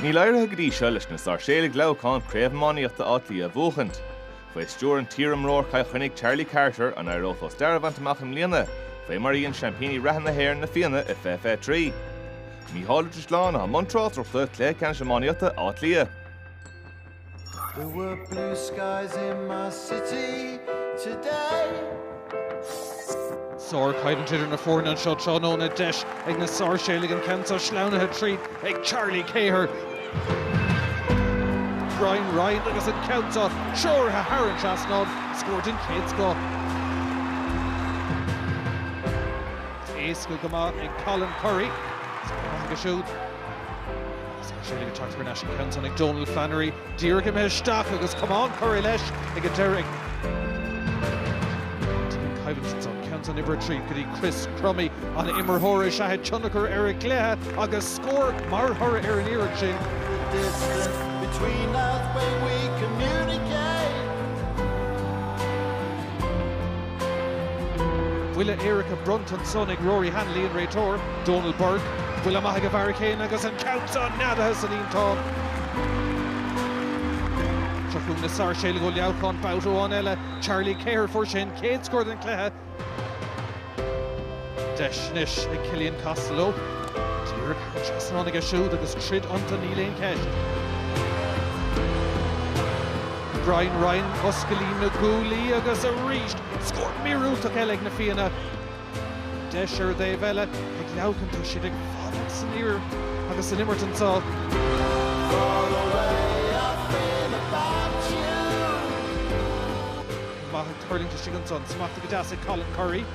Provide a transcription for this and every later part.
Níl éirithe go dtí seo leis na Sáirséalaigh Leamhcáin Craobh Iománaíochta Átha Cliath a bhuachaint. Faoi stiúir iar-imreoir Chill Chainnigh Charlie Carter an éireodh leo stair a bhaint amach i mbliana, fé mar a dhein seaimpíní reatha na hÉireann, Na Fianna, i 2023. Micheál Ó Drisleáin, atá i mbun tráchtaireachta cluiche ceannais iománaíochta Átha Cliath. There were blue skies in my city today. Sárchaighdeán idir na foirne anseo tráthnóna, deis ag na Sáirséalaigh an ceann seo sleamhnaithe tríd ag Charlie Keher, Brian Ryan agus an ceann seo treoraithe thar an trasnán, scór den chéad scoth. Éasca go maith ag Colin Currie. Scór aige siúd. Sáirséalaigh ag teacht thar n-ais an ceann san ag Donal Flannery. Díreach imithe isteach agus camán curtha leis ag an deiridh. An ceann uimhir a trí go dtí Chris Crummey, ag imirt fíor-ard-tionchar ar an gcluiche agus scór mar thoradh ar an iarracht sin. Buille éirice bronnta ansan ag Rory Hanley, an réiteoir, Donal Burke. Buille maith ag an bhfear céanna agus an ceann seo neadaithe sa líontán. Seo chugainn na Sáirséalaigh ó Leamhcán babhta amháin eile. Charlie Keher a fuair sin an chéad scór den chluiche. Deis anois ag Cillian Costello. Díreach thar an trasnán aige siúd agus troid iontu níl aon cheist. Brian Ryan os cionn líon na gcúlaí agus arís scór míorúilteach eile ag na Fianna. Deis ar an dtaobh eile ag Leamhcán, tá siad ag fanacht san ár agus san imirt anseo. maith ag tuirlingt istigh ansan. Smachtaithe go deas ag Colin Currie.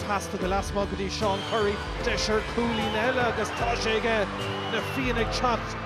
Pas fada lasmuigh go dtí Seán Currie. Deis ar chúilín eile agus tá sé aige! Na Fianna ag teacht.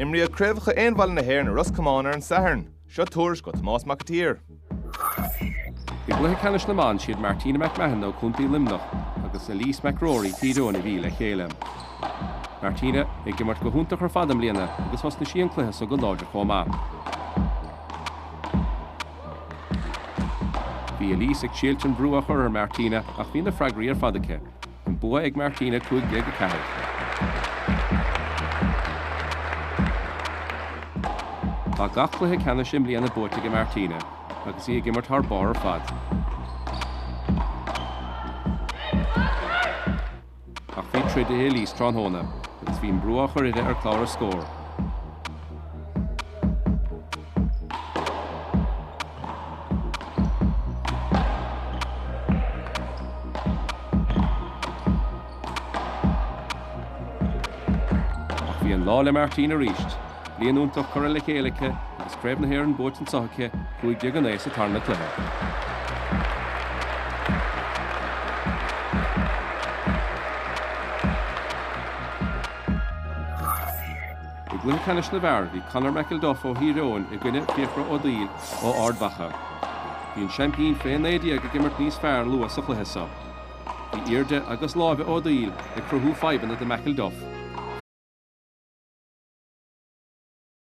Imríodh Craobhacha Aon Bhalla na hÉireann i Ros Comáin ar an Satharn. Seo tuairisc ó Thomás Mac an tSaoir. I gcluiche ceannais na mban, is iad Martina McMahon ó Chontae Luimnigh agus Eilise McCrory Thír Eoghain a bhí le chéile. Martina ag imirt go hiontach ar fad i mbliana agus thosnaigh sí an cluiche so go láidir chomh maith. Bhí Eilise ag síleadh an bhrú a chur ar Martina ach bhí na freagraí ar fad aici. An bua ag Martina, 15-4. Tá gach cluiche ceannais i mbliana buaite ag Martina agus í ag imirt thar barr ar fad. Ach bhí troid i Eilise tráthnóna agus bhí an brú á chur uirthi ar clár an scóir. Ach bhí an lá le Martina arís. Bliain iontach curtha le chéile aici agus Craobh na hÉireann buaite anseo aici cúig déag a naoi sa tarna cluiche. I gcluiche ceannais na bhfear, bhí Conor McElduff ó Thír Eoghain i gcoinne Fiachra Ó Duill ó Ard Mhacha. Bhí an seaimpín fé 19 ag imirt níos fearr luath sa chluiche seo. Bhí airde agus lámha Ó Duill ag cruthú fadhbanna do McElduff.